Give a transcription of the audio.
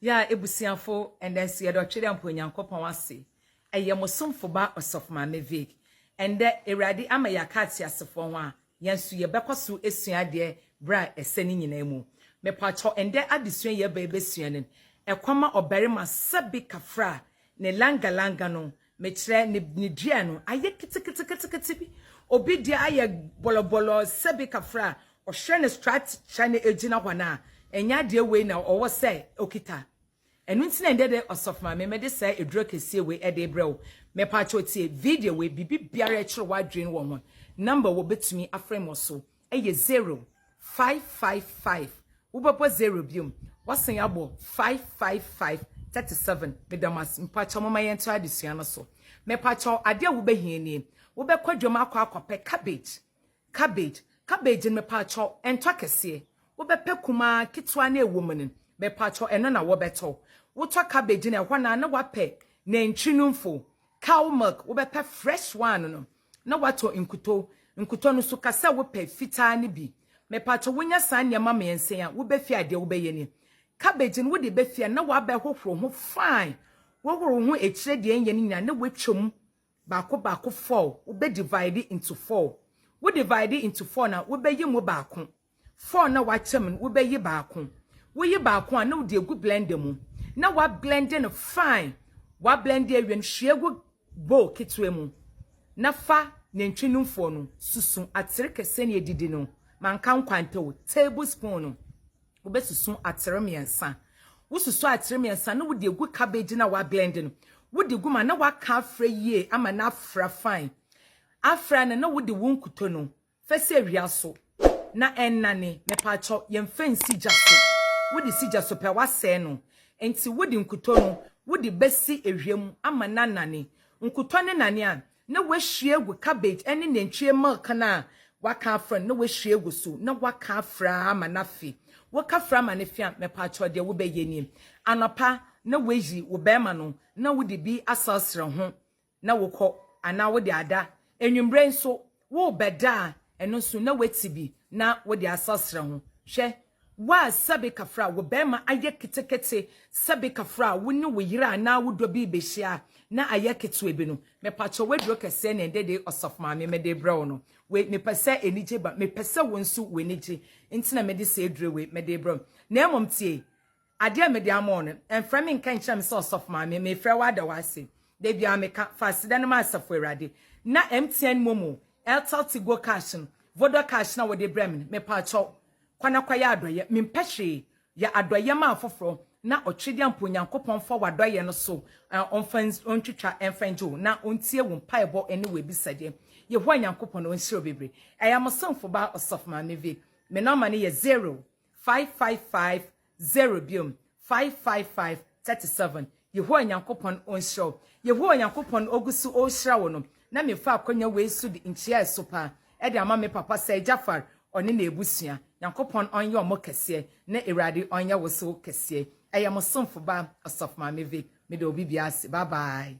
Yɛ a ebusuafo ɛndɛ nso yɛda ɔtwere ampa Onyankopɔn ase ɛyɛ mo somfo ba Ɔsɔfo Maame Vic ɛndɛ Awurade ama yɛ aka ateasefoɔ ho a yɛn nso yɛ bɛkɔ so asua adeɛ berɛ a ɛsɛ ne nyinaa mu me pakyɛw ɛndɛ adesua yi ɛbɛ yɛbɛsua no ɛkɔma ɔbarima sɛbe kafra ne langa langa no Mekyerɛ, ne, ne dua no ayɛ ketekete-ketekete bi. Obi deɛ ayɛ bɔlɔbɔlɔ sɛbe kafra a, ɔhwɛ no stratkyɛ no ɛgyina hɔ no a, ɛnyɛ adeɛ wei na ɔwɔ sɛ ɔkita. Ɛno nti na ɛnnɛ dɛ, Ɔsɔfo Maame, mede saa aduro kɛseɛ wei ɛde rebrɛ wo. Mɛpaakyɛw tie video wei, biribi biara ɛkyere w'adwene wɔ ho, number wɔ bɛtumi afrɛ me wɔ so. yɛ zero, five, five, five, wobɛbɔ zero bio, woasan abɔ five, five, five, thirty seven, meda mo ase, mepakyɛw momma yɛntra adesua no so, mepakyɛw adeɛ a wobɛhia nie, wobɛkɔ dwam akɔ akɔpɛ cabbage, cabbage, cabbage no mepakyɛw ɛntɔ kɛseɛ, wobɛpɛ kumaa, ketewa na ɛwɔ mu no, mepakyɛw ɛno na wɔbɛtɔ, wotɔ cabbage no ɛhɔ no a na woapɛ nantwi numfo, Cow milk, wobɛpɛ fresh one no na woatɔ nkutɔ. Nkutɔ no nso ka sɛ wopɛ fitaa no bi. Mepatɔ wonya saa nneɛma mmiɛnsa yi a, wobɛfie a deɛ wobɛyɛ ni. Cabbage no wode ba fie a na wabɛhohoro ho fine. Wohoro ho akyire deɛ ɛnyɛ no nyinaa na woatwa mu baako baako four. Wobɛ divide into four. Wo divide into four no a, wobɛyɛ mu baako. Four na wakyɛ mu no wobɛyi baako. Woyi baako a na wode agu blender mu na woablende no fine. Woablende awie no hwie gu bowl ketewa mu na fa nantwi numfoɔ no susu atere kɛseɛ na ɛdidi no, manka nkwanta o, table spoon no wobɛsusu atere mmiɛnsa. Wosusu atere mmiɛnsa a na wode agu cabbage no a woablende no wode gu mu a na woaka afra yie ama no afra fine. Afra no na wode wo nkuto no Fɛ sɛ awia so na ɛnnane. Mepaakyɛw yɛmfa nsi gya so. Wode si gya so pɛ a, woasɛe no. Enti wode nkutɔ no, wode bɛsi awia mu ama no anane. Nkutɔ no nane a, na woahwie agu cabbage ne nantwie milk no a woaka afra no, na woahwie agu so, na woaka afra ama no afe. Woka fra ama no fe a, mepaakyɛw deɛ wobɛyɛ nie. Anɔpa, na woayi wo barima no, na wode bi asarsra ho. na wokɔ, anaa wode ada. Anwummere nso, worebɛda a, ɛno nso, na woati bi na wode asrasra ho. Hwɛ, wo a sɛbe kafra wo barima ayɛ ketekete, sɛbe kafra wo ne wo yere anaa wo dɔ bi rebehyia a, na ayɛ ketewa bi no, mepakyɛw, w'aduro kɛseɛ na ɛnnɛ dei, Ɔsɔfo Maame, mede rebrɛ wo no. Wei, mepɛ sɛ anigye ba. Mepɛ sɛ wo nso w'ani gye, enti na mede saa aduro wei mede rebrɛ wo. Na mmom tie, Adeɛ a mede ama wo no, mfrɛ me nka nkyerɛ me sɛ Ɔsɔfo Maame, mefrɛ wo ada wo ase. Da biara meka, fa aseda no ma Asafo Awurade. Na MTN Momo, Airtel Tigo Cash no, Vodacash no a wode brɛ me no, mepaakyɛw, kɔ na kɔyɛ adɔeɛ. Mempɛ hwee. Yɛ adɔeɛ ma afoforɔ, na ɔtwedeɛ ampa Onyankopɔn mfa w'adɔeɛ no so ɔmfa ntwitwa mfa ngye wo, na ɔntie wo mpaebɔ ne w'abisadeɛ. Yehowa Nyankopɔn ɔnhyira wo bebree. Ɛyɛ mo somfo baa Ɔsɔfo Maame Vic. Me nɔma no yɛ zero. Five five five zero biom five five five thirty seven Yehowa Nyankopɔn onhyira wo Yehowa Nyankopɔn ogu so rehyira wo no na mefa akwanya wei so de nkyia ɛso paa de ama me papa Sir Jaffar ɔne n'abusua Nyankopɔn ɔnyɛ ɔmo kɛseɛ na Awurade ɔnyɛ wo so kɛseɛ Ɛyɛ mo somfo ba Ɔsɔfo Maame Vic meda obi biara ase bye bye.